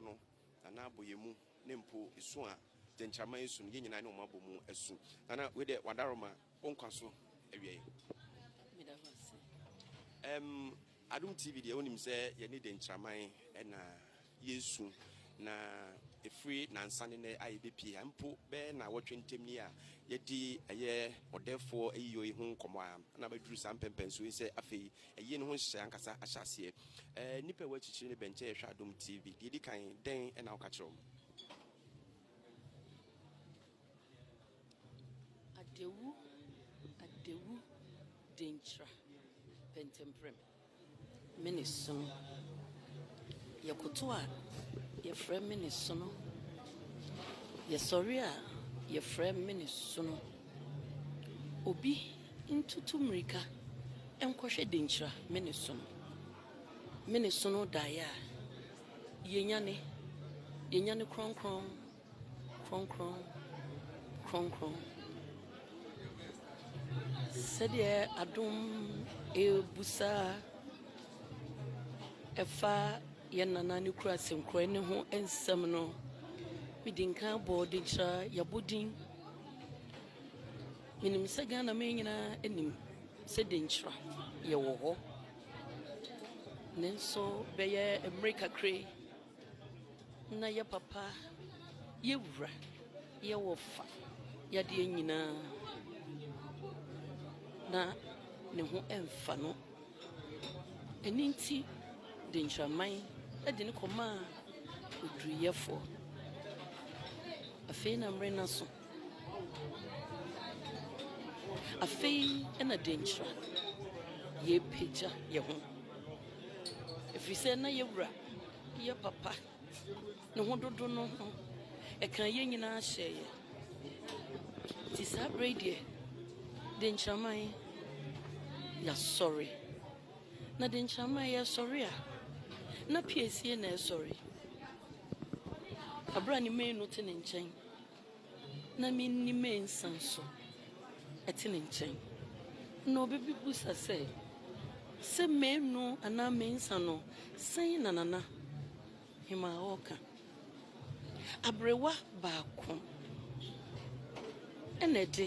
no, Nana abɔ yɛn mu, ne mpo esu a gyɛnkyɛrema yi su no, yɛn nyinaa ne wɔn abɔ mu asu. Nana, wei deɛ wɔadaro ma wo nkwa so awiei. Meda wo ase. Ɛm, Adom TV deɛ wonim sɛ yɛne gyɛnkyɛrman na yɛresu, na ɛfiri nansa ne nnɛ a yɛbɛpie ha mpo bɛyɛ nnawɔtwe ntam ni a yɛadi ɛyɛ ɔdɛɛfoɔ ayiyɔ yi ho nkɔmmɔ a na bɛduru saa mpɛmpɛnsoɔ yi sɛ afei Ayie no ho nhyehyɛe ankasa ahyɛ aseɛ. Ɛɛ nnipa ɛwɔ akyikyiri no bɛnkyɛ yɛhwɛ Adom TV. Deɛ ɛdi kan, dɛn ɛna woka kyerɛ wɔn? Adewu, Adewu Denkyira Pɛntɛmprɛm. Me ne sono. Yɛkoto a, yɛfrɛ me ne sono. Yɛsɔre a, yɛfrɛ me ne sono. Obi ntutu mmirika nkɔhwɛ denkyira me ne sono me ne sono daeɛ a yɛnyane yɛnyane kronkron kronkron kronkron sɛdeɛ adom ɛrebu saa ɛfa yɛn nana ne kura sɛnkorɛ ne ho nsɛm no medi nkan bɔ denkyira yɛabɔ din. Menim sɛ Ghana man nyinaa nim sɛ denkyira yɛ wɔ hɔ. Nanso bɛyɛ mmere kakra yi, na yɛ papa, yɛ wura, yɛ wɔfa, yɛ adeɛ nyinaa, na ne ho mfa no. Ɛno nti de Nkyerɛman de no kɔmaa oduruyɛfoɔ. Afei na mmere no aso. Afei na Denkyira yɛrepagya yɛn ho, ɛfiri sɛ na yɛn wura yɛ papa. Ne ho dodo no ho. Ɛkaa yɛn nyinaa hyɛɛ yɛn. Nti saa berɛ yi deɛ, Denkyiraman yɛasɔre. Na Denkyiraman yɛresɔre a, na PACA na ɛresɔre. Berɛ a ne manu te ne nkyɛn. na minni mensa so te ne nkyɛn. Na obi bebisa sɛ, Sɛ manu anaa mensa no, sɛn na Nana Hemaa ɔɔka? Aberewa baako na ɛde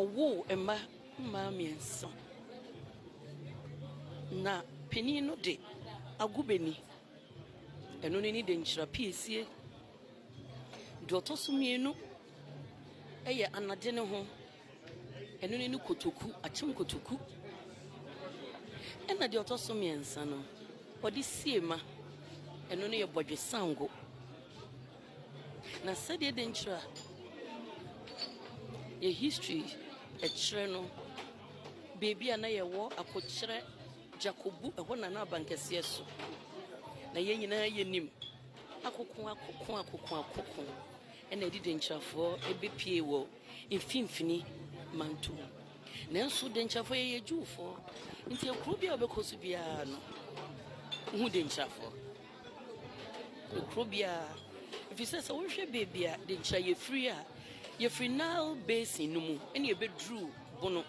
ɔwoo mma mmaa mmiɛnsa. Na panin no de ago bɛni. Ɛno no ani de nkyira piesie. Deɛ ɔtɔ so mmienu yɛ anade no ho. Ɛno ne ne kotoku, akyem kotoku. Ɛna deɛ ɔtɔ so mmiɛnsa no, ɔde sie ma. Ɛno no yɛ bɔdwe sango. Na sɛdeɛ de nkyerɛ a yɛ history ɛkyerɛ no, beebi a na yɛwɔ akokyerɛ gyakobu ɛhɔ na na abankɛseɛ so na yɛn nyinaa yɛnim Akokoakoko-akokoakoko na ɛde denkyirafoɔ bɛpue wɔ mfimfini mantom. Nanso denkyirafoɔ, yɛyɛ Jewfoɔ, nti ekuro biara a wobɛkɔ so biara no, wohu denkyirafoɔ. Ekuro biara, ɛfiri sɛ sɛ wohwɛ baabi a denkyira yɛfiri a, yɛfiri Nile Basin no mu na yɛbɛduru Bono.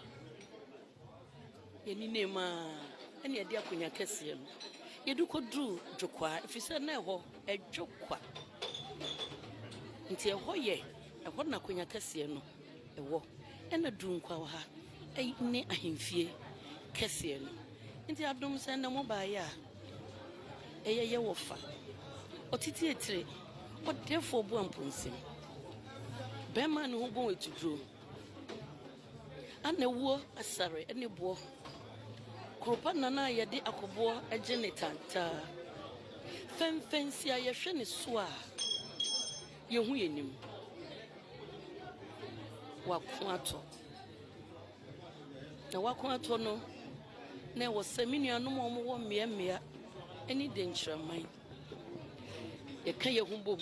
Yɛnenam ara na yɛde akonnwa kɛseɛ no, yɛde kɔduruu Dwokwaa, ɛfiri sɛ na ɛhɔ, ɛdwo kwa. Nti ɛhɔ yɛ, ɛhɔ na akonnwa kɛseɛ no wɔ. Ɛna Dunkwaaha ne ahemfie kɛseɛ no. Nti adom sɛ na mobaeɛ a, ɛyɛ yɛ wɔfa. Ɔtete etire, ɔdɛɛfoɔ boamponsem, bɛmma a ne ho bɔn atuduro. Ana wuo asare ne boɔ. Kuropa nan a yɛde akɔboɔ gye ne tantaa. Fɛnfɛnsi a yɛhwɛ ne so a yɛhu yɛn nim. Wako atɔ. Na wako atɔ no na ɛwɔ sɛ me nuanom a wɔwɔ mmeammea ne dɛnkyiraman yɛka yɛn ho bom.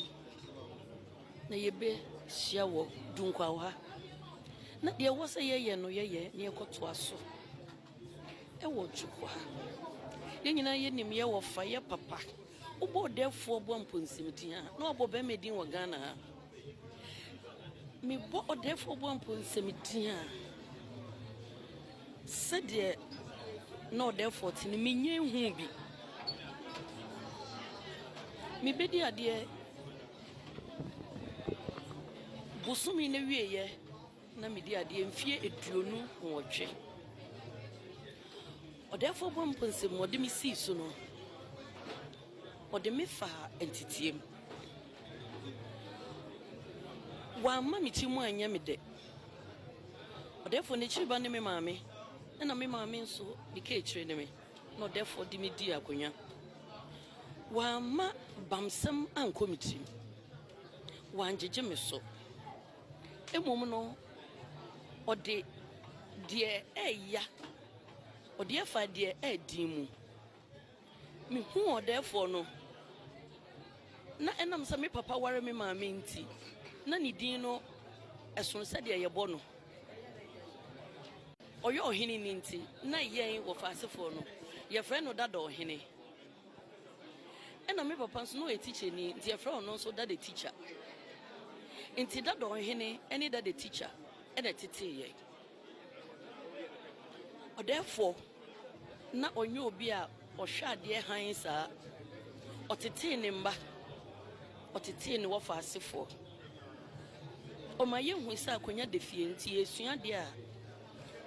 Na yɛbɛhyia wɔ Dunkwao ha. Na deɛ ɛwɔ sɛ yɛyɛ no yɛyɛ na yɛkɔtoa so wɔ Dwoko ha. Yɛn nyinaa yɛnim yɛ wɔfa, yɛ papa. Wobɔ ɔdɛɛfoɔ boa mpɔnsimdin a, na wabɔ bɛrima din wɔ Ghana ha. Mebɔ ɔdɛɛfoɔ boa mpɔnsimdin a, sɛdeɛ na ɔdɛɛfoɔ te no, menya ehu bi. Mebɛdi adeɛ. Bosome no awieeɛ na medi adeɛ mfeɛ aduonu nwɔtwe. Ɔdɛɛfoɔ Boampɔ nsam a ɔde me sii so no, ɔde me faa nteteɛ mu. Wamma me tirim anyɛ me dɛ. Ɔdɛɛfoɔ n'akyiri ba ne me maame, ɛna me maame nso ne kaakyire ne me. na ɔdɛfoɔ de me dii akonnwa. Wamma bamsɛm ankɔ me tirim, wangyegye me so. Mmom no, ɔde deɛ ɛreya, ɔde afaa deɛ ɛyɛ den mu. Mehuu ɔdɛɛfoɔ no, na ɛnam sɛ me papa ware me maame nti, na ne din no ɛsono sɛdeɛ yɛbɔ no. Ɔyɛ ɔhene no nti na yɛn wɔfaasefoɔ no yɛfrɛ no Dada Ɔhene. Ɛna me papa nso na ɔyɛ tikyani nti yɛfrɛ ɔno nso Dada Tikya. Nti Dada Ɔhene ne Dada Tikya na ɛteteeɛ. Ɔdɛɛfoɔ na ɔnyɛ obi a ɔhwɛ adeɛ hann saa. Ɔtetee ne mma, ɔtetee ne wɔfaasefoɔ. Ɔma yehu sɛ akonnwa da fie nti yɛresua ade a,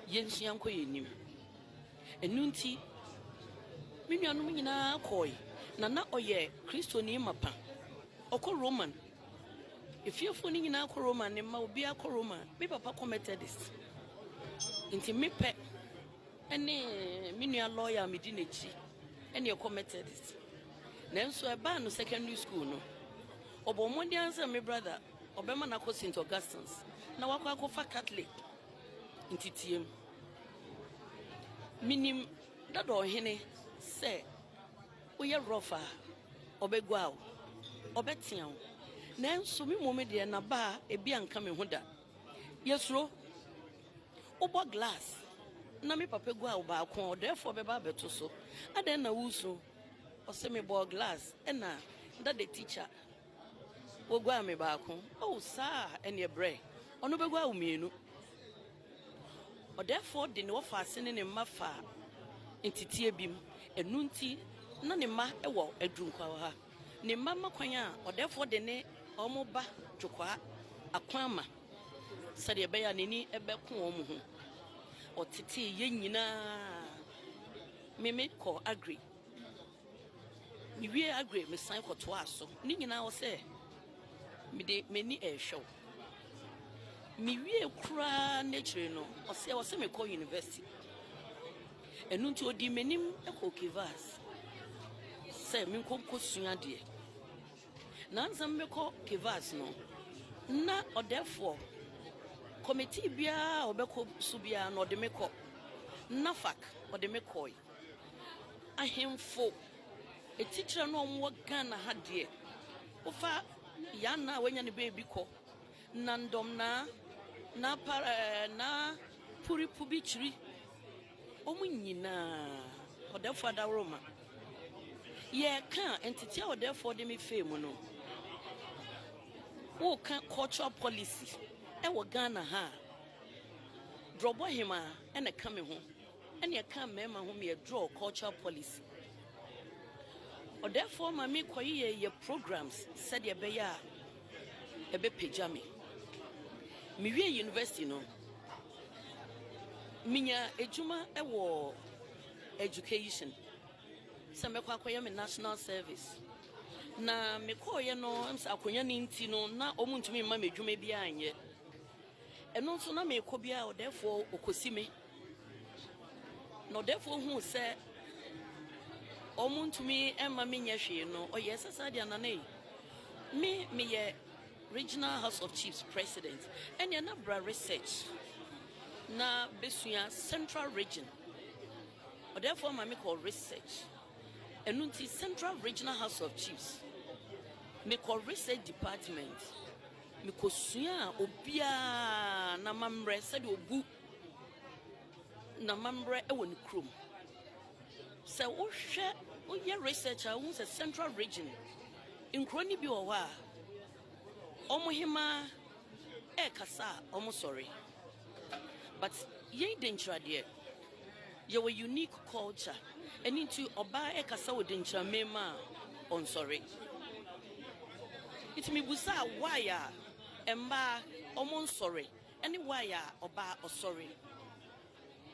yensua nkɔ yɛn anim. Ɛno nti, me nuanom nyinaa kɔe, na na ɔyɛ Kristoni mapa. Ɔkɔ Roma. Efiefo no nyinaa kɔ Roma, ne mma, obiara kɔ Roma. Me papa kɔ Methodist. Nti me pɛ ne me nua lɔya a medi n'akyi ne ɛkɔ Methodist. Nanso ɛbaa no secondary school no, Ɔbɔɔ mmɔden ara sɛ me brada ɔbɛma no akɔ St. Augustine's na wakɔ akɔfa Catholic nteteɛm. Minim dada ɔhene sɛ woyɛ rough a, ɔbɛguaa wo, ɔbɛtea wo. Nanso me mmom deɛ na ba a ebi anka me ho da. Yɛsuro. Wobɔ glass na me papa guaa wo baako a, ɔdɛɛfoɔ bɛba abɛto so. Adɛn na woresuro? Ɔse mebɔɔ glass ɛna da the teacher Woguaa me baako oh saa a ɛneɛ brɛ Ɔno bɛguaa wo mmienu Ɔdɛɛfoɔ de ne wɔfaase ne ne mma faa nteteɛ bi mu Ɛno nti na ne mma wɔ Adwunkwaawaha Ne mma ma kwan a ɔdɛɛfoɔ de ne wɔn ba Dwokwaa akwan ma Sɛdeɛ ɛbɛyɛ a n'ani bɛko wɔn ho Ɔtetee yɛn nyinaa. Me me kɔ agri me wie agri me san kɔ toa so ne nyinaa wɔ sɛ me de m'ani ɛrehwɛ wo me wie koraa n'akyire no ɔsɛ wɔ sɛ me kɔ university ɛnu nti odi m'anim ɛkɔ kivas sɛ me nkɔ nkɔ sua deɛ. Naansa mekɔ Kivas no, nna ɔdɛfoɔ, committee biara a ɔbɛkɔ so biara no ɔde me kɔ. NAFAC ɔde me kɔɔe. Ahemfo atikyerɛ no a wɔwɔ Ghana ha deɛ, wofa Yaa Naa a wanya ne baabi kɔ, Nandɔm Naa, Naa Para ɛɛ Naa Puri Pubi Kyiri, Wɔn nyinaa, Ɔdɛɛfoɔ Adaworoma, yɛreka nteteɛ a Ɔdɛɛfoɔ de me fee mu no, woreka cultural policy wɔ Ghana ha a, Drɔbɔhemaa na ɛka me ho, ɛna ɛka mmarima ho meɛ drɔ cultural policy. Ɔdɛɛfoɔ ma me kɔyeyɛ yɛ programs sɛdeɛ ɛbɛyɛ a ɛbɛpagya me. Mewie university no, Minya edwuma wɔ education, sɛ mɛkɔ akɔyɛ me national service. Na mekɔeɛ no, ɛm sɛ akonnwa no nti no, na wɔntumi mma me adwuma biara nyɛ. Ɛno nso na mekɔ biara ɔdɛɛfoɔ ɔkɔsi me. Na ɔdɛɛfoɔ huu sɛ wɔntumi mma menyɛ hwee no, ɔyɛɛ sɛ saa deɛ Nana ei, me meyɛ. Regional House of Chiefs President ɛneɛ na bra research na bɛsua Central Region ɔdɛɛfoɔ ma me kɔ research ɛno nti Central Regional House of Chiefs me kɔ research department me kɔ sua obiara na mammerɛ sɛdeɛ obu N'amammerɛ wɔ ne kurom. Sɛ wohwɛ, woyɛ research a, wohu sɛ central region, nkuro no bi wɔ hɔ a, wɔn hemaa ɛrekasa a, wɔsɔre. But yɛn Denkyira deɛ, yɛwɔ unique culture. Ɛno nti ɔbaa ɛrekasa wɔ Denkyira man mu a, ɔnsɔre. Nti mebusaa why a mmaa wɔnsɔre. ne Wai a ɔbaa ɔsɔre.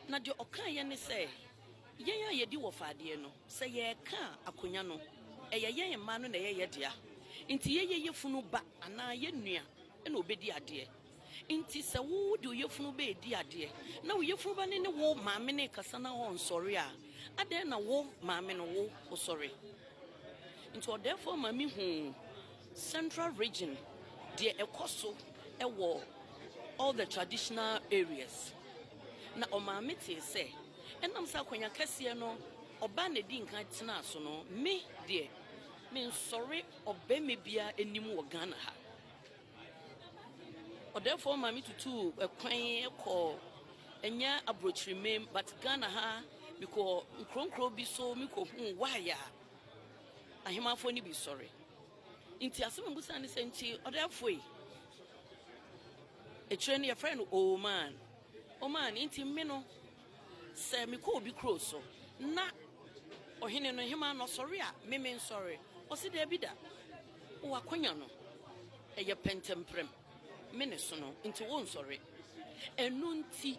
Na deɛ ɔkaeɛ ne sɛ, Yɛn a yɛdi wɔfa adeɛ no, sɛ yɛreka a, akonnwa no, ɛyɛ yɛn mmaa no na ɛyɛ yɛn dea. Enti yɛyɛ yafunu ba anaa yɛn nua na ɔbɛdi adeɛ. Enti sɛ wo wode wo yafunu ba redi adeɛ, na wo yafunu ba no ne wo maame no rekasa na ɔnsɔre a, adɛn na wo maame no, wo, wosɔre? Enti ɔdɛɛfoɔ ma mehuu. Central Region, deɛ ɛkɔ so wɔ all the traditional areas. Na ɔmaame tee sɛ, ɛnam sɛ akwanya kɛseɛ no ɔbaa na ɛdi nkan tenaa so no, me deɛ, mensɔre ɔbarima biara anim wɔ Ghana ha. Ɔdɛɛfoɔ maame tutuu ɛkwan kɔɔ, ɛnyɛ aburokyiri mem, but Ghana ha, mekɔɔ nkuro nkuro bi so, mekɔhuu why a, Ahemafo no bi sɔre. Nti asɛm a mubisa ne sɛ, nti ɔdɛɛfo yi, akyire no yɛfrɛ no Oman. Oman, nti me no, sɛ mekɔ obi kuro so, na ɔhene no, hemaa no ɔsɔre a, me mensɔre? Ɔse daabi da. Wɔ akwanya no, ɛyɛ pɛntɛmprɛm. Me ne sono, nti wonsɔre. Ɛno nti,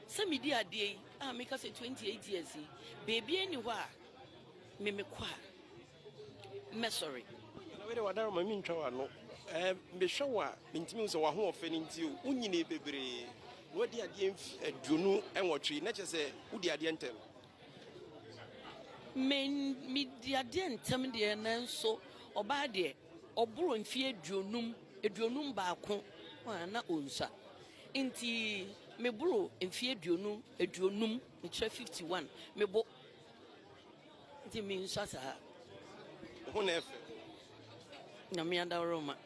sɛ medi adeɛ yi, a meka sɛ 28 years yi, baabiara nni hɔ a Me me kɔ a mɛ sɔre. Na wei de wadara ma mentwa w'ano eh, mehwɛ wo a mentumi hu sɛ w'ahoɔfɛ no nti o wonyini bebree na wadi adeɛ mfi aduonu nwɔtwe na kyerɛ sɛ wodi adeɛ ntɛm medi adeɛ ntɛm deɛ nanso ɔbaa deɛ ɔboro mfie aduonum aduonum baako na ɔnsa nti meboro mfie aduonu aduonum mekyerɛ 51 mebo Nti me nsua saa. Wo ho na ɛfɛ. Nyame adaworoma.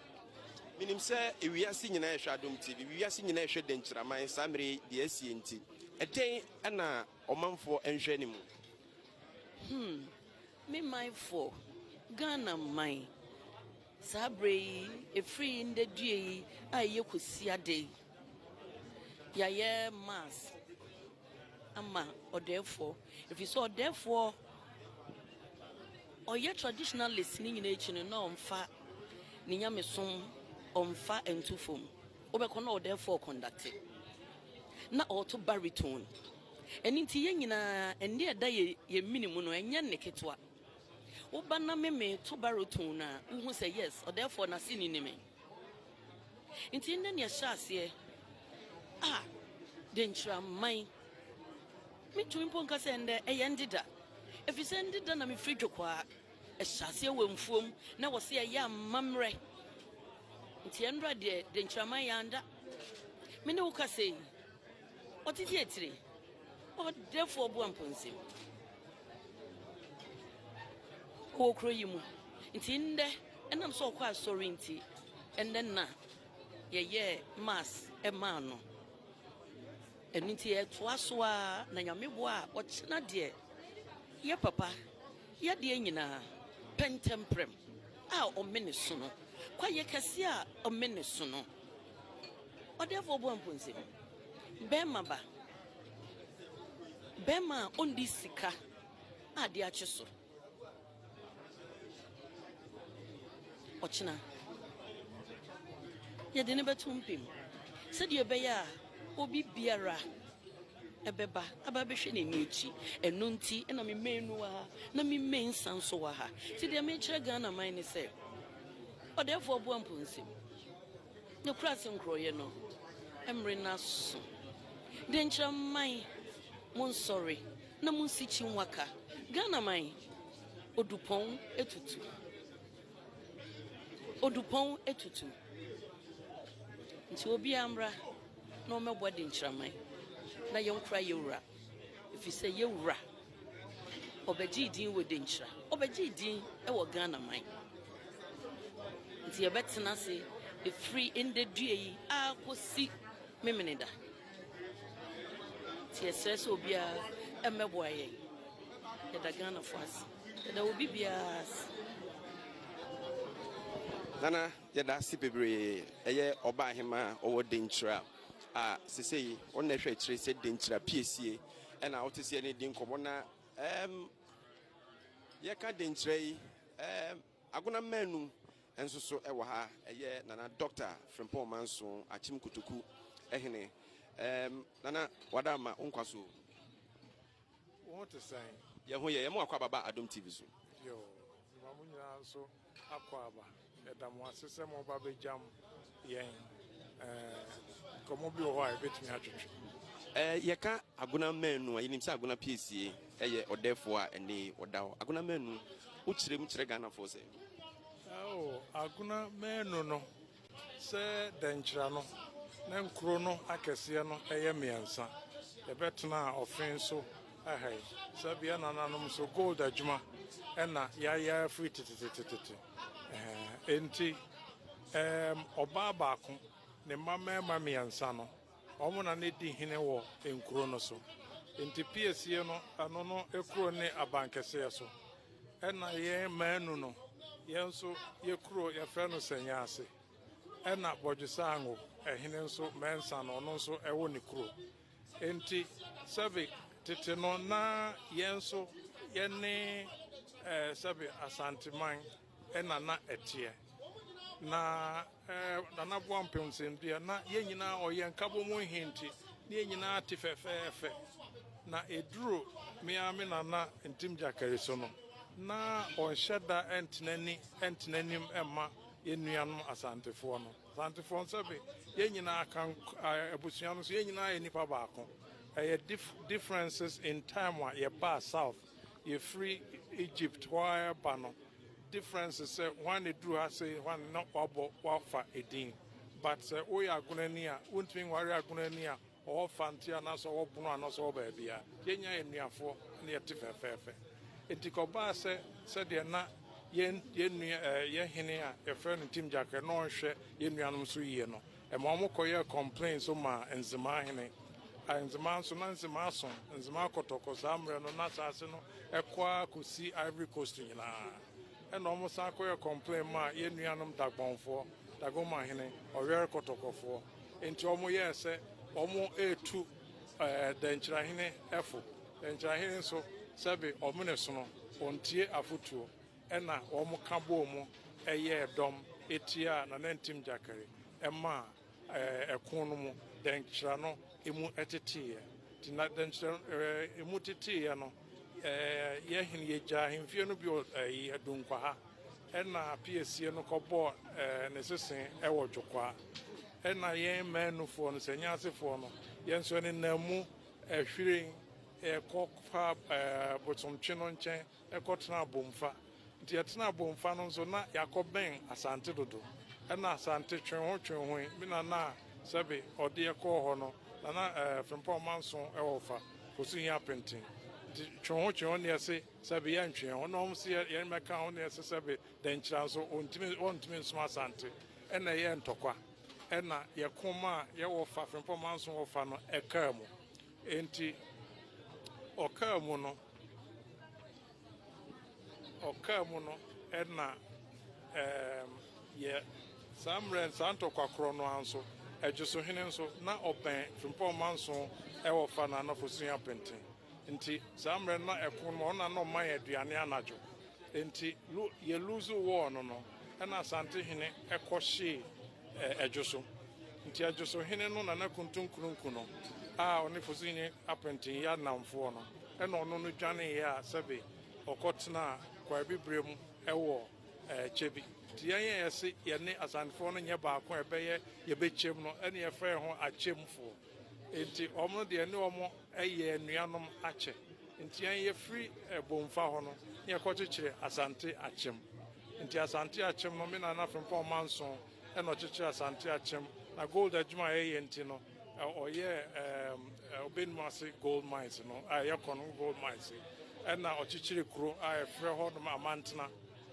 Menim sɛ ewiase nyinaa ɛhwɛ Adom TV, wiase nyinaa ɛhwɛ Dankyiraman saa mmerɛ deɛ asie nti. Ɛdɛn ɛna ɔmanfoɔ ɛnhwɛ ne mu? Hmm, me manfoɔ, Ghana man, saa berɛ yi, ɛfiri yi ndɛ due yi a ɛyɛ kwasiada yi, yɛayɛ mass ama ɔdɛɛfoɔ ɛfiri sɛ ɔdɛɛfoɔ ɔyɛ traditionalist ne nyinaa akyi no na ɔmfa ne nyamesom ɔmfa nto fam wobɛkɔ na ɔdɛɛfoɔ ɔkɔndakte na ɔto baritone ɛno nti yɛn nyinaa ɛnne ɛda yɛ yɛ mini mu no ɛnyɛ nne ketewa woba na meme to baritone a wohu sɛ yes ɔdɛɛfoɔ n'ase ni ne me Ntsi ndɛ nea ɛhyɛ aseɛ a Denkyiraman, metumi mpo nka sɛ ndɛ ɛyɛ ndeda, ɛfiri sɛ ndeda na mefiri Dwokwaa, ɛhyɛ aseɛ wɔ mfuom na wɔse ɛyɛ amammerɛ. Nti ɛnnora deɛ Denkyiraman yɛanda, me ne wo kasa yi. Ɔtete atire, ɔdɛfoɔ ɔboa mpɔnsam wɔ kuro yi mu. Nti ndɛ ɛnam sɛ ɔkɔ asɔre nti ɛnɛ nna yɛyɛɛ mass ɛmaa no. Ɛno nti yɛtoa so ara na Nyame boa a ɔkyena deɛ yɛ papa yadeɛ nyinaa pɛntɛmprɛm a ɔmene so no, kwayɛ kɛseɛ a ɔmene so no. Ɔdɛɛfoɔ Obuamponse, bɛɛma ba, bɛɛma a ɔndi sika a ade akye so. Ɔkyena, yɛde no bɛto mpem sɛdeɛ ɛbɛyɛ a obi biara ɛbɛba aba bɛhwɛ n'ani akyi. Ɛno nti na me mmɛn no wɔ ha, na me mmɛn nsa nso wɔ ha. Nti deɛ mekyerɛ Ghana man ne sɛ, Ɔdɛɛfoɔ Obuamponse, Ne kura ase nkorɔyɛ no, ɛmmere no aso. Denkyira man, monsɔre na monsi Kyinnwaka, Ghana man, Odupɔn atutu, Odupɔn atutu. Nti obiara mmra na ɔmmɛboa Denkyira man na yɛnkora yɛn wura, ɛfiri sɛ yɛn wura. Ɔbɛgyee din wɔ Denkyira. Ɔbɛgyee din wɔ Ghana man. Nti yɛbɛtena ase ɛfiri ndɛ dua yi akɔsi Memeneda. Nti yɛsrɛ sɛ obiara mmɛboa yɛn. Yɛda Ghanafoɔ ase. Yɛda obi biara ase. Nana, yɛda ase bebree. Ɛyɛ Ɔbaahemaa a ɔwɔ Denkyira a sesei wɔn na ɛhwɛ akyire sɛ Denkyira piesie. Ɛna wote sɛ yɛne di nkɔmmɔ na ɛɛm yɛka denkyerɛ yi ɛɛm agona mmanu nso so ɛwɔ ha ɛyɛ nana dɔkta Frimpong Manso Akyem Kotoku ɛhene ɛɛm nana wada ama wo nkwa so. Wo ho te sɛn? Yɛn ho yɛ yɛn mo akɔ ababa Adom TV so. Yoo, ma mo nyinaa nso. Akwaaba, yɛda mo ase sɛ mo ba bɛ gyam yɛn nkɔmmɔ bi wɔ hɔ a yɛbɛtumi atwetwe. Yɛka Agona Manu a, yɛnim sɛ Agona piesie yɛ ɔdɛɛfoɔ a ɛnne ɔda hɔ. Agona Manu, wo kyerɛ mu kyerɛ Ghanafoɔ sɛ? Agona Manu no, Sɛ dɛnkyira no, na nkuro no akɛseɛ no yɛ mmiɛnsa. Yɛbɛtenaa ɔfe so ha yi. Saa bi nananom nso, gold adwuma na yɛayɛ ara firi tetetetete. Enti, ɛɛm, ɔbaa baako, ne mma mmarima mmiɛnsa no, Wɔn na na edi hene wɔ nkurow no so. Enti piesie no, ɛno no kurow ne abankɛseɛ so. Ɛna yɛn mmaanu no, yɛn nso yɛ kurow yɛfrɛ no Sɛnyaase. Ɛna Bɔdwesango, ɛhene nso Mɛnsa no, ɔno nso ɛwɔ ne kurow. Enti sɛbe tete no na yɛn nso yɛne sɛbe Asanteman. na na ɛteɛ. Na Nana Boampem sɛm deɛ, na yɛn nyinaa ɔyɛ nkabom he nti, ne yɛn nyinaa te fɛfɛɛfɛ. Na eduru me ara me Nana Ntim Gyakari so no, na ɔnhyɛ da ntena ni ntena anim mma yɛn nuanom Asantefoɔ no. Asantefoɔ no sɛbe yɛn nyinaa kan abusua no so, yɛn nyinaa yɛ nipa baako. Ɛyɛ differences in time a yɛbaa South Yɛfiri Egypt hɔ ara reba no difference sɛ hwan na ɛduru ha sei hwan na wabɔ wafa edin but sɛ woyɛ agonani a wontumi nware agonani a ɔwɔ fante anaasɛ ɔwɔ bono anaasɛ ɔwɔ baabia yɛnya yɛ nnuafoɔ na yɛte fɛfɛɛfɛ nti kɔbaa sɛ sɛdeɛ na yɛn yɛn nua eh, yɛn hene a yɛfrɛ no Tim Gyakɛ na ɔnhwɛ yɛn nuanom so yie no Ɛma wɔn kɔyɛɛ kɔmplen nso maa Nzemaa hene. A Nzemaa nso, na Nzemaa som Nzemaa kɔtɔkɔ saa mmerɛ no, n'asaase no kɔ ara kɔsi Ivory Coast nyinaa. Ɛna wɔn san kɔyɛɛ kɔmplen maa yɛn nuanom Dagbɔnfoɔ, Dagoma hene, Ɔwɛre kɔtɔkɔfoɔ. Enti wɔn yɛɛ sɛ wɔn retu ɛɛ Dɛnkyira hene fo. Dɛnkyira hene nso, sɛbe ɔmene sono, ɔntie afotuo. Ɛnna wɔka bɔɔ mu yɛɛ dɔm tiaa Nanantim Gyakari maa ɛko no mu dɛnkyerɛ no mu teteeɛ. Nti na dɛnkyerɛ no mu teteeɛ no, yɛhene yɛgyaa ahemfie no bi wɔ Dunkwaha, ɛnna Piesie no kɔbɔɔ ne sesee wɔ Dwokwaa. Ɛnna yɛn Mmaanufoɔ no, Sɛnyasefoɔ no, yɛn nso yɛnenam mu hwiren kɔ fa Bosomtwe no nkyɛn kɔtenaa Bomfa. Nti yɛtenaa Bomfa no nso na yɛakɔbɛn Asante dodo. Ɛnna Asante twenhotwenhoe. Me nana a sɛbe ɔde yɛ kɔɔ hɔ no, na na Frimpong manso wɔ fa kɔ so hia penten. Nti twenhotwenho na yɛse sɛbe yɛntwe yɛn ho na wɔn se yɛmmɛka ho na yɛse sɛbe Dankyira nso wɔntumi nsom Asante. Ɛnna ɛyɛɛ ntɔkwa. Ɛnna yɛko maa yɛwɔ fa, Frimpong manso wɔ fa no, ɛkaa mu. Enti ɔkaa mu no, ɔkaa mu no na ɛɛm, yɛ saa mmerɛ no, saa ntɔkwa korɔ no ara nso, Ɛgyesohene nso, na ɔbɛn Frimpong manson wɔ fa no anafo sua penten. Enti saa mmerɛ no na ɛko no mu, ɔno na na ɔma yɛn aduane anadwo. Enti lu, yɛ luuzu wɔɔ no no, ɛna Asantehene kɔhyee Ɛdwo so. Nti Ɛdwo so hene no na na Kuntun Krunku no a ɔne Fosinye Apenten yɛ adnamfoɔ no na ɔno no dwaneeɛ a sɛbe ɔkɔ tenaa Kwaabibire mu wɔ kyɛ bi. Nti yɛn a yɛse yɛne Asantefoɔ no nyɛ baako a ɛbɛyɛ yɛbɛkyɛm no ne yɛfrɛ yɛn ho Akyɛmfoɔ. Enti wɔn no deɛ ɛne wɔn yɛ anuanom akyɛ. Nti yɛn yɛfiri Bomfa hɔ no na yɛkɔkyekyere Asante Akyem. Nti Asante Akyem no me Nana Frimpong Amanson na ɔkyekyere Asante Akyem. Na gold adwuma a yɛyɛ nti no ɔyɛ ɛɛm Obenuma ase gold mines no a ɛyɛ Konongo gold mines yi ɛna ɔkyekyere kuro a yɛfrɛ hɔ nom Amantena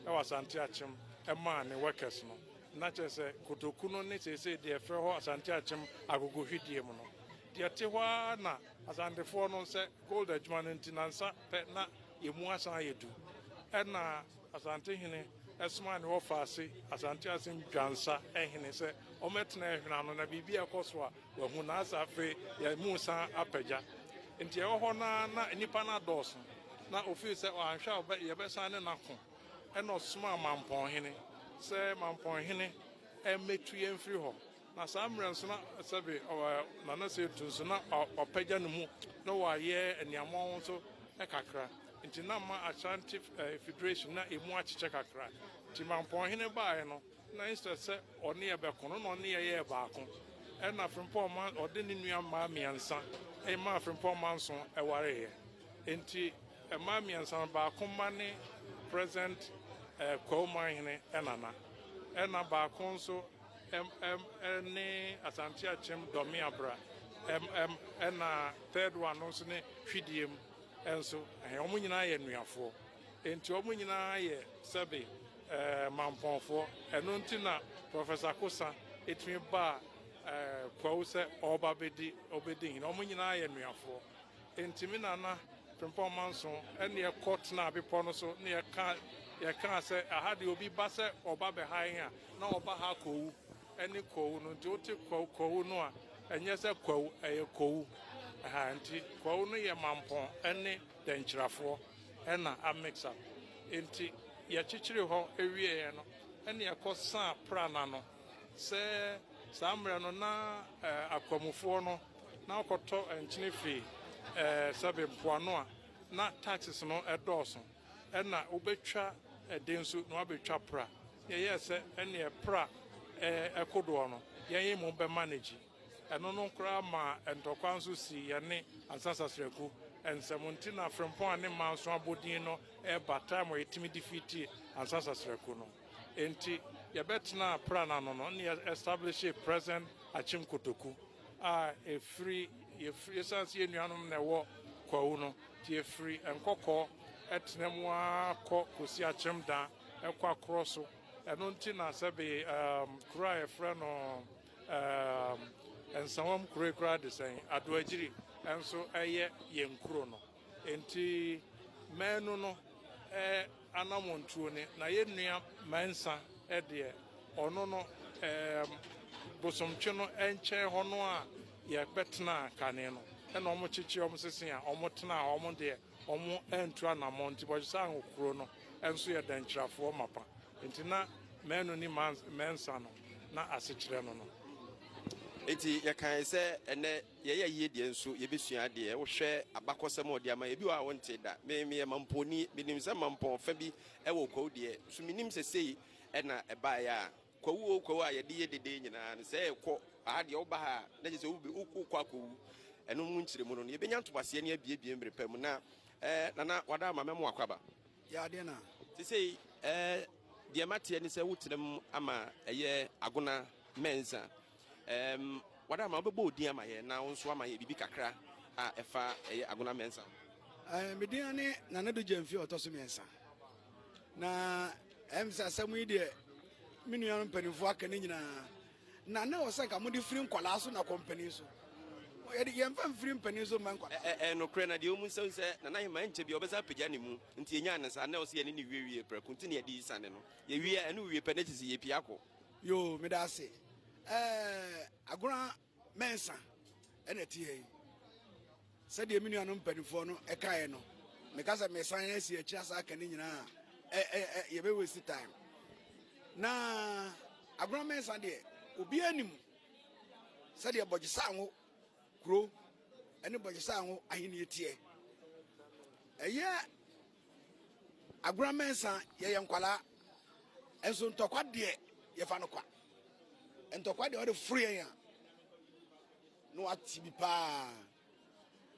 ɛwɔ Asante Akyem ɛmaa ne workers no. Na kyerɛ sɛ, kotoku no ne seesei deɛ yɛfrɛ hɔ Asante Akyem Agogo Hwedeɛ mu no, deɛ te hɔ ara na Asantefoɔ no sɛ gold adwuma no nti nansa pɛ na ɛmu asan ayɛ du. Ɛna Asantehene somaa ne wɔfaase Asante Akyem Dwansa hene sɛ ɔmmɛtena ɛhwene ano na biribi a ɛkɔ so a wahu na asɛ afei yɛamu san apagya. Nti ɛwɔ hɔ no ara na nnipa no adɔɔso na ɔfii sɛ anhwɛ a yɛbɛsan ne no ako. Ɛnna ɔsomaa Mampɔn hene sɛ, Mampɔn hene, mmetu yɛn mfiri hɔ. Na saa mmerɛ nso na sɛbe Nana Setu nso na wapagya ne mu na wayɛ aniammɔn nso kakra. Nti na ama Ashanti Federation na ɛmu akyekyɛ kakra. Nti Mampɔn hene baeɛ no, na instead sɛ ɔne yɛ bɛko no, na ɔne yɛ yɛɛ baako. Ɛnna Frimpong ma ɔde ne nua mmaa mmiɛnsa maa Frimpong Manso wareeɛ. Enti mmaa mmiɛnsa no, baako mma ne present Kwawu Manhene nana, ɛna baako nso ne Asante Akyem Dɔme Abra, ɛna third one no nso ne Hwidiem nso, wɔn nyinaa yɛ Nnuafoɔ. Enti wɔn nyinaa yɛ sɛbe Mampɔnfoɔ. Ɛno nti na Professor Kosa tumi baa Kwawu sɛ ɔreba bɛdi hene. Wɔn nyinaa yɛ Nnuafoɔ. Enti me nana Frimpong Manso ne yɛn kɔ tenaa bepɔ no so na yɛkaa sɛ, Aha deɛ obi ba sɛ ɔba bɛha yɛn a, na ɔba ha kɔwu. Ɛne kɔwu no. Nti wote kɔwu no a, ɛnyɛ sɛ kwawu, ɛyɛ kɔwu. Aha, nti kɔwu no yɛ mampɔn ne dɛnkyirafoɔ na a mix up. Enti yɛkyekyeree hɔ wieeɛ no na yɛkɔ saa Prana no. Sɛ saa mmerɛ no na akwamufoɔ no. na ɔkɔtɔ nkyene firi sɛbe mpoano a na taxes no dɔɔso ɛna wobɛtwa ɛde nso na wabɛtwa pra na yɛyɛɛ sɛ ɛneɛ pra ɛkodoɔ no yɛn mu bɛ manage ɛno no koraa ma ntɔkwa nso si yɛne ansa sasraku nsɛm nti na frempɔn a ne mmaa nso abɔdin no ɛba time a yɛtumi defeat ansa sasraku no nti yɛbɛtena pra no ano no ne yɛ establish present akyem kotoku a ɛfiri, yɛfiri, ɛsiane sɛ yɛn nuanom na ɛwɔ kwawu no, nti yɛfiri nkɔkɔɔ ɛtena mu ara kɔ kɔsi akyem da ɛkɔ akorɔ so. Ɛno nti na sɛbe um, kuro a yɛfrɛ no um, nsawam kuro yi koraa de sɛn, Adoagyiri nso ɛyɛ yɛn kuro no. Enti maanu no anamɔntuo ne na yɛ nua mansa deɛ ɔno no bosomtwe no nkyɛn hɔ no a yɛ bɛ tenaa kane no ɛna ɔmo kyekye ɔmo sese a ɔmo tenaa hɔ ɔmo deɛ ɔmo antu anamɔn nti bɔdwe sɛ ango kuro no nso yɛ dankyirafoɔ mapa enti na maanu ni mansa no na asekyerɛ no no. Enti yɛ kae sɛ ɛnɛ. Yɛyɛ yie deɛ nso yɛbɛsua adeɛ. Wohwɛ abakɔsɛm a ɔde ama yɛn, ebi wɔ hɔ a wontee da. Me meyɛ Mamponi, menim sɛ Mampɔn fa bi wɔ Kwawu deɛ, nso mennim sɛ sei na ɛbaeɛ a Kwawu o Kwawu a yɛde yɛ dede nyinaa no. Sɛ ɛrekɔ aha deɛ woba ha a na kyerɛ sɛ wobe wokɔ akɔwu. Ɛno mu nkyerɛmu no no yɛbɛnya ntoboaseɛ ne abiebie mmere pa mu na eh, Nana Wadaama mɛmo akɔ aba. Yɛ adeɛ na. Te sei eh, deɛ mateɛ ne sɛ wotenam ama ɛyɛ Agona Mensah. Ɛɛm, w'Adamma, wobɛbɔ wo din ama yɛn na wo nso ama yɛn biribi kakra a ɛfa ɛyɛ Agona Mensah ho? Ɛɛm, me din ne Nana Addo Gyamfi a ɔtɔ so mmiɛnsa. Na ɛɛm sɛ asɛm yi deɛ me nuanom mpanimfoɔ aka ne nyinaa. Na na ɛwɔ sɛ nka mode firi nkwadaa so na kɔ mpanin so. Yɛde yɛmfa mfiri mpanin so mma nkwadaa. Ɛ ɛyɛ nokorɛ na deɛ ɔmu nsa sɛ Nana Heman ɛnkyɛ biara ɔbɛsan apagya ne mu nti yɛnyaa no saa. Na ɛwɔ sɛ yɛne no wiewie prɛko nti na yɛde yi sane no. Yɛwie a ɛne wo wie pɛ na ɛkyɛ sɛ yɛpue akɔ. Yoo meda ase eh, Agona Mensah ɛna ɛte ha yi. Sɛdeɛ me nuanom mpanimfoɔ no ɛkaeɛ no, meka sɛ mesan asi akyiri asa aka ne nyinaa a, yɛbɛ waste time. Na Agona Mensah deɛ, obiara anim sɛdeɛ Bɔgyesango kuro ɛne Bɔgyesango ahennie teɛ. Ɛyɛ Agorɔ mɛnsa yɛyɛ nkwadaa nso ntɔkwa deɛ yɛfa no kwa ntɔkwa deɛ ɔde foro yɛn a na wate bi paa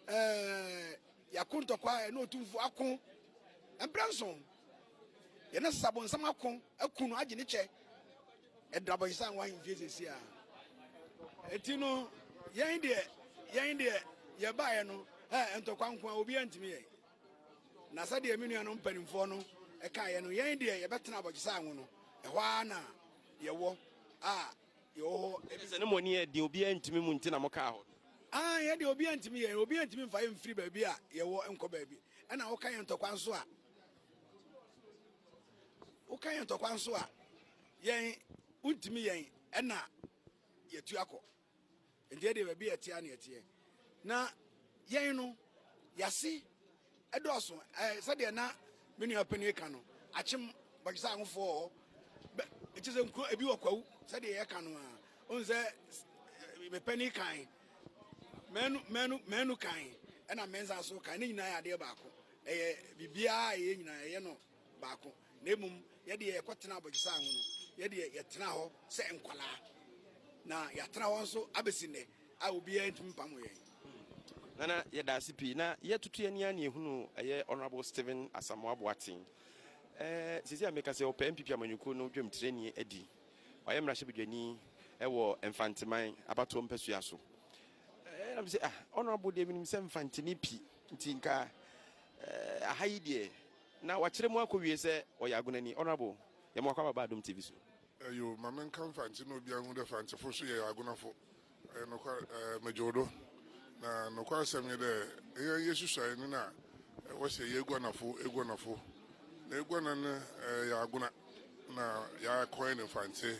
ɛɛ yɛako ntɔkwa ɛna otumfo ako mpere nso yɛne sabonsam ako aku no agye ne kyɛ ɛdra bɔnsa nwa ahemfie sisi a eti no yɛn deɛ yɛn deɛ yɛbaeɛ no ɛɛ ntɔkwa nko a obiara ntumi yɛ. Na sɛdeɛ me nuanom mpanimfoɔ no kaeɛ no, yɛn deɛ yɛbɛtena abɔgyesɛ anwo no, ɛhɔ ara na yɛwɔ a yɛwɔ hɔ. Ɛfiri sɛ ne mo ani yɛ den, obiara ntumi mu nti na mokaa hɔ no. Aane, yɛn deɛ obiara ntumi yɛn, obiara ntumi mfa yɛn mfiri baabi a yɛwɔ nkɔ baabi. Ɛnna woka yɛn ntɔkwa nso a, woka yɛn ntɔkwa nso a, yɛn, wontumi yɛn, ɛnna yɛatu akɔ. Nti ɛdeɛ baabi a ɛteɛ ara na ɛteɛ. Na yɛn no, yɛase dɔɔso. Ɛɛ sɛdeɛ na me nua panin ka no, akyem bɔgyesa ahofoɔ wɔ hɔ. Bɛ ɛkyɛ sɛ nkuro ebi wɔ kwawu sɛdeɛ yɛka no a. Wohu sɛ eh, me panin kan, mɛnu mɛnu mɛnu kan, ɛna mɛnsa so kan. Ne nyinaa yɛ adeɛ baako. Ɛyɛ biribiara a ɛyɛ nyinaa ɛyɛ no baako, na mmom yɛ deɛ yɛkɔtenaa abɔgyesaa ho no, yɛ deɛ yɛtenaa hɔ sɛ nkwadaa, na yɛatena hɔ nso abɛsi nnɛ a obiara ntumi mpamo yɛn. Nana, yɛda ase pii. Na yɛtutu yɛn ani a na yɛhunu ɛyɛ Honourable Stephen Asamoah Boateng. Eh, seesei a meka sɛ ɔpɛ NPP amanyɔkuo no dwamtirani adi. Ɔyɛ mmarahyɛbadwani wɔ Mfanteman abatoɔ mpasua so. Eh, na mesɛ ah, Honourable deɛ menim sɛ Mfante ne pi, nti nka eh, aha yi deɛ Na wakyerɛ mu akɔ wie sɛ ɔyɛ agonani. Honourable, yɛma wakɔ aba ba Adom TV so. Eyo, ma me nka Mfantse na obiara nhu dɛ Mfantsefo so yɛ agonafo. Ɔyɛ nokwar, eh, megye wo do. Na nokwasɛm nye dɛ, hɛn yesusuae no na wɔse yɛ eguanafo, eguanafo. Na eguana no, eh, yɛ agona na yɛ akɔɛn Mfantse.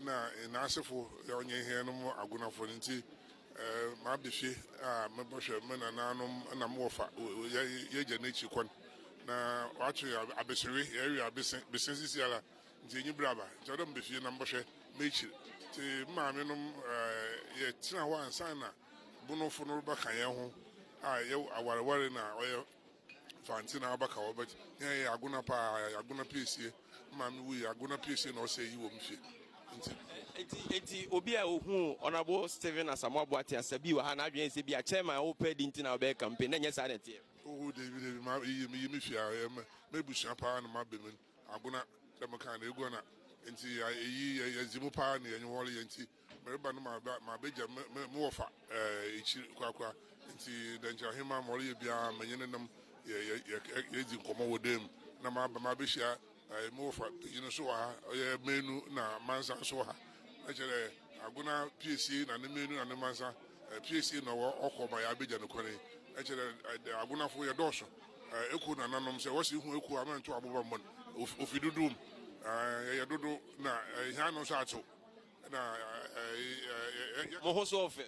Nna hɛn asefo a wɔnye hɛn no mu agonafo no ntsi, m'abehwe a mobɔhwɛ me nanaanom na mo wɔfa yɛagya n'ekyir kwan. Na wɔato hɛn abesewe, yɛrewe abese, bese sisiara, ntsi enyi ber aba, ntsi ɔwɔ dɛ meba fie na mobɔhwɛ m'ekyir. Ntsi me maamenom, yɛtsenaa hɔ ansaana Bonofo no rebɛka hɛnho a yɛawarwar na ɔyɛ. Fanti na aba ka wɔ bɛt yɛn yɛ agona paa yɛ agona piesie maame wu yɛ agona piesie na ɔsɛ yi wɔ mu fie nti. Eti eti obi a ohu ɔnabo Stephen Asamoah Boate asa bi wɔ ha na adwene sɛ bi a chairman a ɔpɛ di nti na ɔbɛyɛ campaign na nyɛ saa na ɛteɛ. Oho David David ma yi mi yi mi fie a yɛ mɛ mɛ busua paa na ma bɛ mu agona dɛm kan na egua na nti yɛ eyi yɛ yɛ dzi mu paa na yɛ nyɛ wɔle yɛ nti. Mereba no maba mabegya me me me wɔfa ɛɛ ekyir korakora nti dɛ nkyɛn ahenman ma ɔreyɛ biara menye ne nam yɛ yɛ yɛ yɛdzi nkɔmbɔ wɔ dan mu na maba mabehyia ɛɛ me wɔfa panyin nso wɔ ha ɔyɛ manu na mansa nso wɔ ha na kyerɛ dɛ agona piesie na ne manu na ne mansa ɛɛ piesie na ɔwɔ ɔkɔ ma yɛabegya no kwan yi na kyerɛ dɛ agonafo yɛdɔɔso ɛɛ ekuo na nanom sɛ wɔsi hu ekuo a mɛnto aboba mmɔ no ofi dodow mu ɛɛ yɛyɛ dodow na ɛɛ hɛn ano nso atsew. na ɛyɛ. Mo ho so ɔfɛ.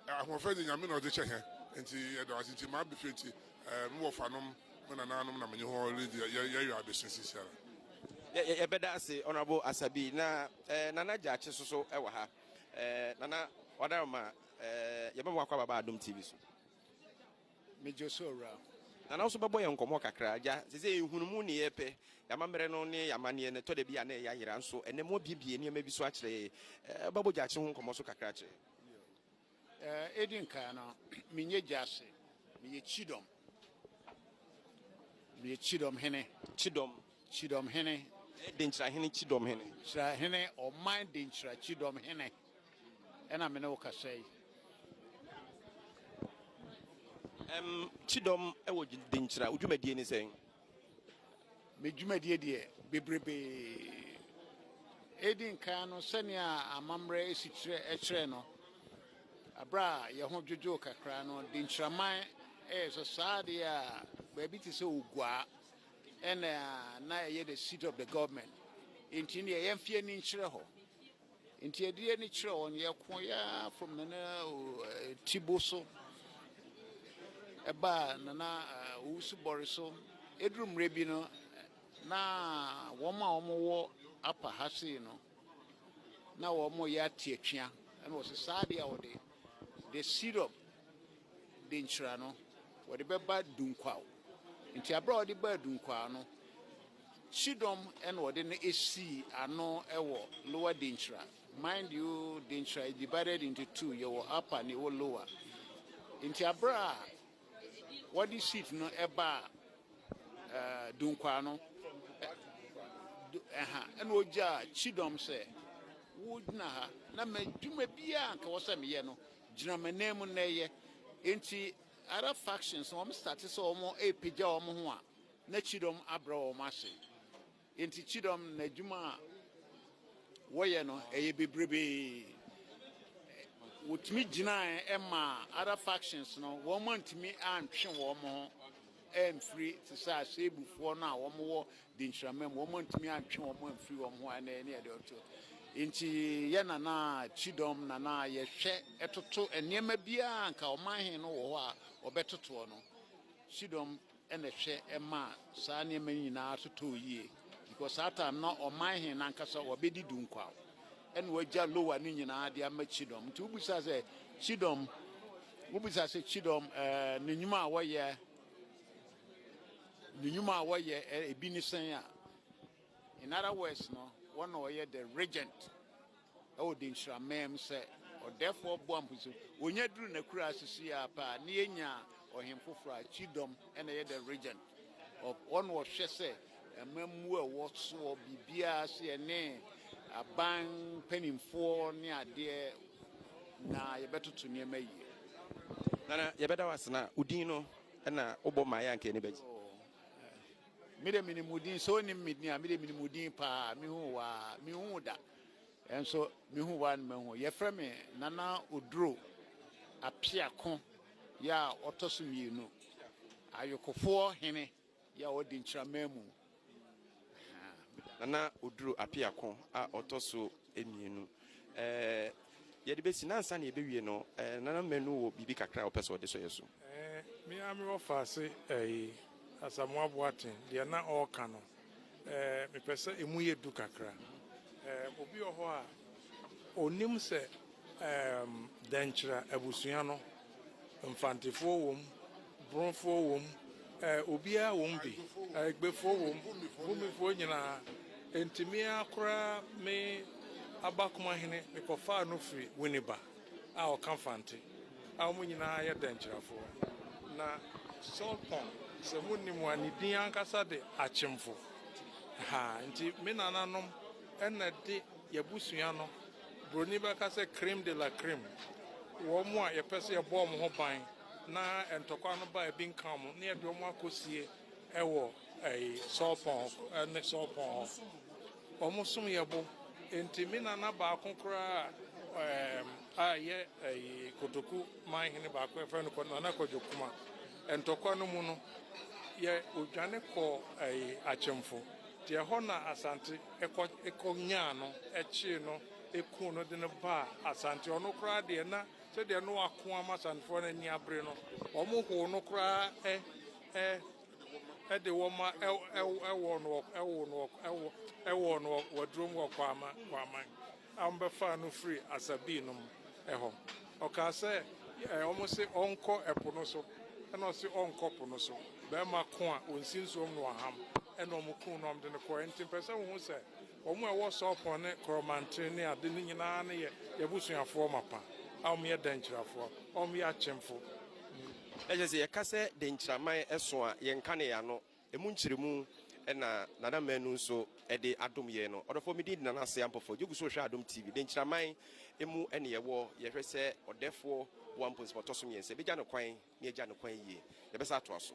Ahoɔfɛ de Nyame na ɔde kyɛ hɛn. Ntsi yɛda ɔase ntsi ma abɛfie ntsi mo wɔfanom, mo nanaanom na menye hɔn ridzi yɛyɛ adesua seseiara. Yɛbɛda ase Honourable Asabi na Nana Gyakye so so wɔ ha. Nana, ɔdawoma, yɛbɛma wakɔ ababa Adom TV so. Megye so awuraa. Nana wo so bɛbɔ yɛn nkɔmɔ kakra. Agya, sesei yɛhunu mo nneyɛɛ pɛ, y'amammerɛ no ne y'amanneɛ no, ɛtɔda bi a na ɛyɛ ayera, nso ɛnnɛ mo abiebie nneɛma bi so akyerɛ yɛn. Wobɛbɔ gyakye ho nkɔmɔ so kakra akyerɛ yɛn? Bio. Edi nkan no, menyɛ gyase, meyɛ kyidɔm. Meyɛ kyidɔm hene. Kyidɔm? Kyidɔm hene. Ɛyɛ denkyira hene, kyidɔm hene. Denkyira hene, ɔman denkyira kyidɔm hene. ɛna me ne wo kasa yi. Ɛm, Kyidɔm wɔ Denkyira, wo dwumadie ne sɛn? Me dwumadie deɛ, bebrebe. Edi nkan no, sɛnea amammerɛ si kyerɛ kyerɛ no, berɛ a yɛn ho dwodwoo kakra no, Denkyiraman yɛ sɛ saa adeɛ a baabi te sɛ Oguaa ɛna na ɛyɛ the seat of the government. Nti deɛ yɛmfe ani nkyerɛ hɔ. Nti ɛdeɛ ne kyerɛ wɔn, yɛko yɛ ara from Nana Tibo so ɛbaa Nana Owusu Bɔre so. Ɛduru mmerɛ bi no, na wɔn a wɔn wɔ apa ha sei no, na wɔn yɛ ate atwea. Ɛna wɔsɛ saa adeɛ a wɔde, the syrup de nkyira no, wɔde bɛba Dunkwaw. Enti bere a wɔde baa Dunkwaw no, kyidɔm na wɔde no sii ano wɔ Lower Denkyira. Mind you, Denkyira is divided into two, yɛwɔ Upper na yɛwɔ Lower. Enti bere a wɔde sheet no baa uh, Dunkwaw no, ɛha ɛna ogyaa kyidɔm sɛ wogyina ha na madwuma biara nka wɔ sɛ meyɛ no Gyina m'ananmu nnɛ ɛyɛ. Enti other factions no wɔn starte sɛ wɔn repagya wɔn ho a na Kyidɔm abrɛ wɔn ase. Enti Kyidɔm no n'adwuma a wɔyɛ no ɛyɛ bebrebee. Wɔtumi gyinaeɛ maa other factions no wɔn antumi antwe wɔn ho. amfiri te sɛ aserebufoɔ no a wɔwɔ denhyirama mu, wɔantumi antwe wɔn amfiri wɔn ho a ɛna ɛne ɛde ɔto. Nti yɛ nana kyidɔm nana yɛhwɛ ɛtoto nneɛma biara nka ɔman he no wɔ hɔ a ɔbɛtotoɔ no kyidɔm ɛna ɛhwɛ ɛma saa nneɛma nyinaa totoo yie because saa time no ɔman he nankasa wɔbɛdi du nkwaw ɛna wɔagya lowa no nyinaa de ama kyidɔm nti wobisa sɛ kyidɔm Wobisa sɛ kyidɔm ne nnwuma a wɔyɛ ne nnwuma a wɔyɛ ebi ne sɛn a, in other words no, wɔn na ɔyɛ the regent ɛwɔ Denkyira mɛm sɛ ɔdɛfoɔ boa mposi wɔnya duru n'akura asisi a paa ne yɛnya ɔhen foforɔ a kyidɔm ɛna ɛyɛ the regent. Ɔwɔ na ɔhwɛ sɛ amammuo a ɛwɔ soɔ biribiara so yɛ ne aban mpanimfoɔ ne adeɛ na yɛbɛtoto nneɛma yie. Nana yɛbɛda wo ase na wo din no na wobɔ maa yɛ anka yɛni bɛgye. Oh, me de menim wo din sɛ onim me din a me de menim wo din paa mehu waa mehu da. Nso mehu woa no mahu. Yɛfrɛ me Nana Oduro Apeako yɛ a ɔtɔ so mmienu. Ayokofoɔ hene yɛ a ɔdi Nkyerɛman mu. Nana Oduro Apeako a ɔtɔ so mmienu. Ɛɛ yɛde bɛsi na ansa na yɛbɛwie no, ɛɛ Nana Manu wɔ biribi kakra a ɔpɛ sɛ ɔde sɔ yɛ so. Ɛɛ me ara me wɔ faase ɛɛ Asamoah Boateng deɛ na ɔreka no. Eh, mepɛ sɛ emu yɛ du kakra. Eh, obi wɔ hɔ a, onim sɛ eh, dɛnkyerɛ abusua no, mfantefoɔ wom, borofoɔ wom, eh, obiara wom bi, eh, egbefoɔ wom, bumifoɔ nyinaa. Enti me ara koraa me abakomahene mekɔfaa no firi Winneba. a ɔka Fante, a wɔn nyinaa yɛ Dankyirafoɔ. Na Sɔlpɔn, sɛ monnim a, ne din ankasa de Akyemfo. Ha nti me nananom na de y'abusua no, Buroni bɛka sɛ creme de la creme, wɔn a yɛpɛ sɛ yɛbɔ wɔn ho ban na ntɔkwa no ba a ebi nka wɔn na yɛde wɔn akɔsie wɔ Sɔlpɔn ne Sɔlpɔn hɔ. Wɔsom yɛ bo. Enti me nana baako koraa a ɛyɛ Kotoku man hene baako a wɔfrɛ no Nana Kwadwo Kumah, ntɔkwa no mu no, yɛ odwane kɔɔ Akyemfo. Nti ɛhɔ na Asante kɔ nyaa no, kyee no, kuu no de no baa Asante. Ɔno koraa deɛ na sɛdeɛ na wako ama Asantefoɔ no ani abere no, wɔhow no koraa ɛ. de wɔn ma ɛwɔ no ɛwɔ no ɛwɔ no wɔduro mu wɔ kwaama kwaama a wɔbɛfa no firi asabii nom ɛhɔ ɔkaa sɛ wɔn se ɔnkɔ ɛpo no so ɛna ɔse ɔnkɔ po no so bɛrima ko a wɔnsi nsuom no ɔham ɛna wɔn kun no wɔn de no kɔ ɛnti mpɛ sɛ wɔn ho sɛ Wɔn a ɛwɔ Sorpon ne Koromanten ne ade no nyinaa no yɛ y'abusuafoɔ mapa, a wɔn yɛ Denkyirafoɔ, a wɔn yɛ akyemfo. Ɛkyerɛ sɛ yɛka sɛ Denkyiraman ɛso a, yɛnka no yɛ ano, ɛmu nkyerɛmu na Nana Manu nso de adom yɛn no. Ɔdɔfoɔ, me din de Nana Asea Ampofo, gye gu so hwɛ Adom TV. Denkyiraman mu ne yɛwɔ, yɛhwɛ sɛ ɔdɛfoɔ boa mpo nsɛm a ɔtɔ so mmiɛnsa, yɛbɛgya no kwan na yɛagya no kwan yie. Yɛbɛsan atoa so.